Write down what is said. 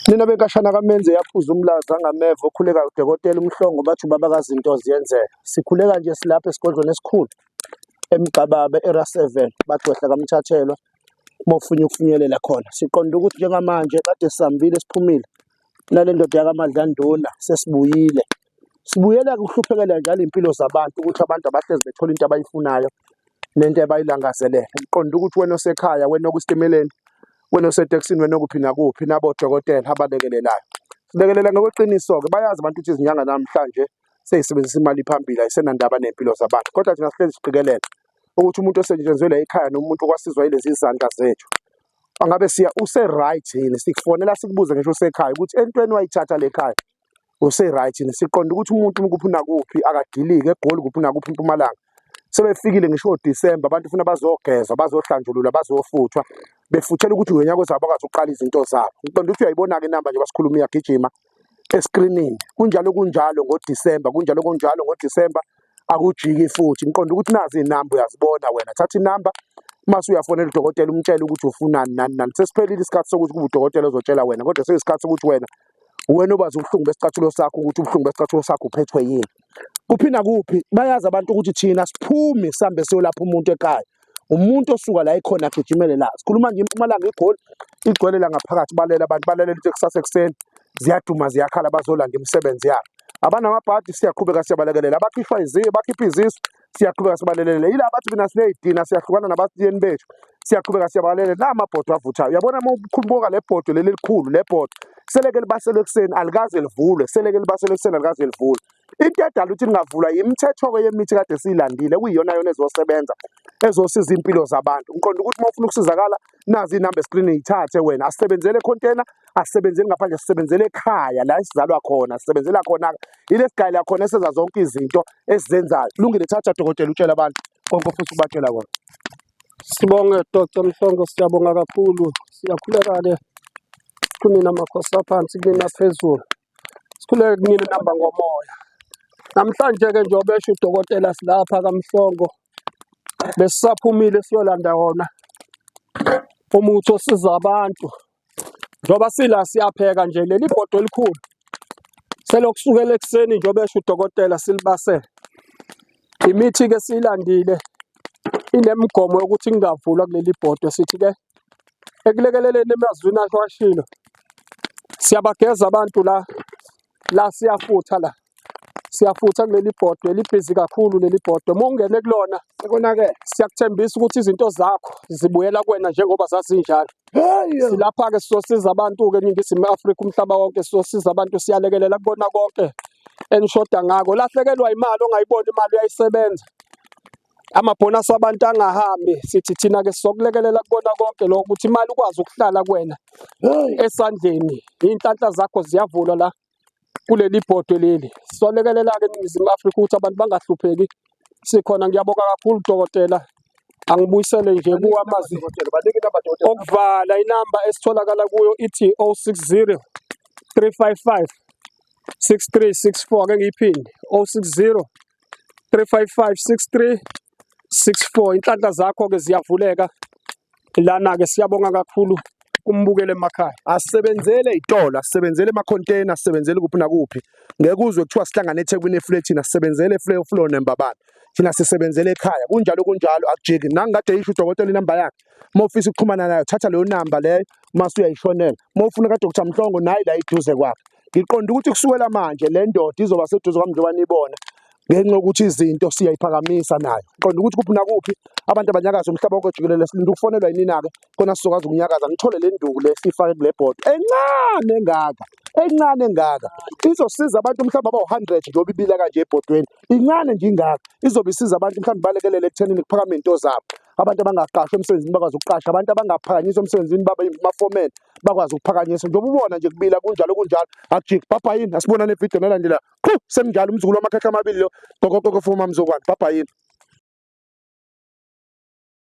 Nina benkashana kamenze yaphuza umlazi angameva okhuleka udokotela umhlongo bathi ubaba kazinto ziyenzeka. Sikhuleka nje silapha esigodlweni esikhulu eMgxababa era 7 bagcwehla kamthathelwa mofunye ukufinyelela khona. Siqonda ukuthi njengamanje kade sihambile siphumile nale ndoda yakaMadlanduna sesibuyile Sibuyela kuhluphekela nje alempilo zabantu ukuthi abantu abahlezi bethola into abayifunayo nento abayilangazelele. Ngiqonda ukuthi wena osekhaya, wena okusitimeleni, wena osetekisini, wena okuphi nakuphi, nabodokotela abalekelelayo. Silekelela ngokweqiniso-ke bayazi abantu ukuthi izinyanga namhlanje seyisebenzisa imali phambili ayisenandaba ney'mpilo zabantu kodwa thina sihlezi siqikelela ukuthi umuntu osetshenziwe la ekhaya noma umuntu okwasizwa yilezi zandla zethu angabe siya use-right yini sikufonela sikubuze ngisho usekhaya ukuthi entweni wayithatha le khaya use-right yini siqonde ukuthi umuntu umkuphi nakuphi akadilike egoli kuphi nakuphi impumalanga sebefikile ngisho odisemba abantu funa bazogezwa bazohlanjulula bazofuthwa befuthela ukuthi ngonyaka ozaba bakwazi ukuqala izinto zabo ngiqonde ukuthi uyayibona-ke inamba nje basikhuluma iyagijima eskrinini kunjalo kunjalo ngodisemba kunjalo kunjalo ngodisemba akujiki futhi ngiqonde ukuthi nazi inamba uyazibona wena thatha inamba mase uyafonela udokotela umtshele ukuthi ufunani nani nani sesiphelile isikhathi sokuthi kube udokotela ozotshela wena kodwa seyisikhathi sokuthi wena wena obazi ubuhlungu besicathulo sakho ukuthi ubuhlungu besicathulo sakho uphethwe yini kuphi nakuphi bayazi abantu ukuthi thina siphumi sihambe siyolapha umuntu ekhaya umuntu osuka la ekhona agijimele la sikhuluma nje impumalanga igoli igcwele la ngaphakathi balela abantu balalela into ekusasa ekuseni ziyaduma ziyakhala bazolanda imisebenzi yabo abanamabhadi siyaqhubeka siyabalekelela abakhishwa iziyo bakhipha izisu siyaqhubeka sibalelele yila bathi mina sineyidina siyahlukana nabatiyeni bethu siyaqhubeka siyabalelele la mabhodwe avuthayo uyabona uma ukhuluboka le bhodwe leli elikhulu le bhodwe seleke libaselwe ekuseni alikaze livulwe seleke libaselwe ekuseni alikaze livulwe into edala ukuthi lingavulwa yimithetho-ke yemithi kade siyilandile kuyiyona yona ezosebenza ezosiza iy'mpilo zabantu ngiqonda ukuthi uma ufuna ukusizakala nazi inamba screen yithathe wena asisebenzele container asisebenzeli ngaphandle sisebenzele ekhaya la esizalwa khona sisebenzela khona ilesigayela khona esenza zonke izinto esizenzayo lungile thatha dokotela utshela abantu konke futhi ubatshela kona sibonge dr mhlongo siyabonga kakhulu siyakhuleka ke kunina makhosi aphansi kunina phezulu Sikhuleke kunina nihamba ngomoya. Namhlanje-ke njengoba esho udokotela silapha kaMhlongo besisaphumile siyolanda wona umuthi osiza abantu njengoba sila siyapheka nje leli bhodo elikhulu selokusukela ekuseni njengoba esho udokotela silibasele imithi-ke siyilandile inemigomo yokuthi kungavulwa kuleli bhodo sithi-ke ekulekeleleni emazwini akhe washilo siyabageza abantu la la siyafutha la siyafutha kuleli bhodwe libhizi kakhulu leli bhodwe uma ungene kulona konakele siyakuthembisa ukuthi izinto zakho zibuyela kuwena njengoba zazinjalo silapha-ke sizosiza abantu-ke eningizimu afrika umhlaba wonke sizosiza abantu siyalekelela kubona konke enishoda ngako lahlekelwa imali ongayiboni imali uyayisebenza amabhonasi abantu angahambi sithi thina ke sizokulekelela kubona konke lokho ukuthi imali ukwazi ukuhlala kuwena esandleni iy'nhlanhla zakho ziyavulwa la kuleli bhodwe leli sizolekelela-ke eningizimu afrika ukuthi abantu bangahlupheki sikhona ngiyabonga kakhulu dokotela angibuyisele nje kuwamazi okuvala inamba esitholakala kuyo ithi 060 355 6364 ake ngiyiphinde 060 355 63 64 inhlanhla zakho ke ziyavuleka lana ke siyabonga kakhulu kumbukele emakhaya asebenzele itolo asebenzele ama container asebenzele kuphi nakuphi ngeke uzwe kuthiwa sihlangana eThekwini efletini asebenzele eflow flow nembabana thina sisebenzele ekhaya kunjalo kunjalo akujiki nangikade yisho udokotela inamba yakhe uma ufisa ukuxhumana nayo thatha leyo namba leyo uma usuyayishonela uma ufuna kadr mhlongo nayi la iduze kwakhe ngiqonda ukuthi kusukela manje le ndoda izoba seduze kwami njengoba nibona ngenxa yokuthi izinto siyayiphakamisa nayo qonda ukuthi kuphi nakuphi abantu abanyakaza umhlaba wonke jikelele silinde ukufonelwa yinina-ke kona sizokwazi ukunyakaza ngithole le nduku le siyifake kule bhodo encane engaka encane engaka izosiza abantu mhlawumbe abawu-hundred njengoba ibila kanje ebhodweni incane nje ingaka izobe isiza abantu mhlawumbe balekelele ekuthenini kuphakame iy'nto zabo abantu abangaqashwa emsebenzini bakwazi ukuqasha abantu abangaphakanyiswa emsebenzini babe amafomeni bakwazi ukuphakanyiswa njengoba ubona nje kubila kunjalo kunjalo akujiki bhabha yini asibona le video nalandela qhu senginjalo umzukulu wamakhekhe amabili lo gokogoko fuma mzokwane bhabha yini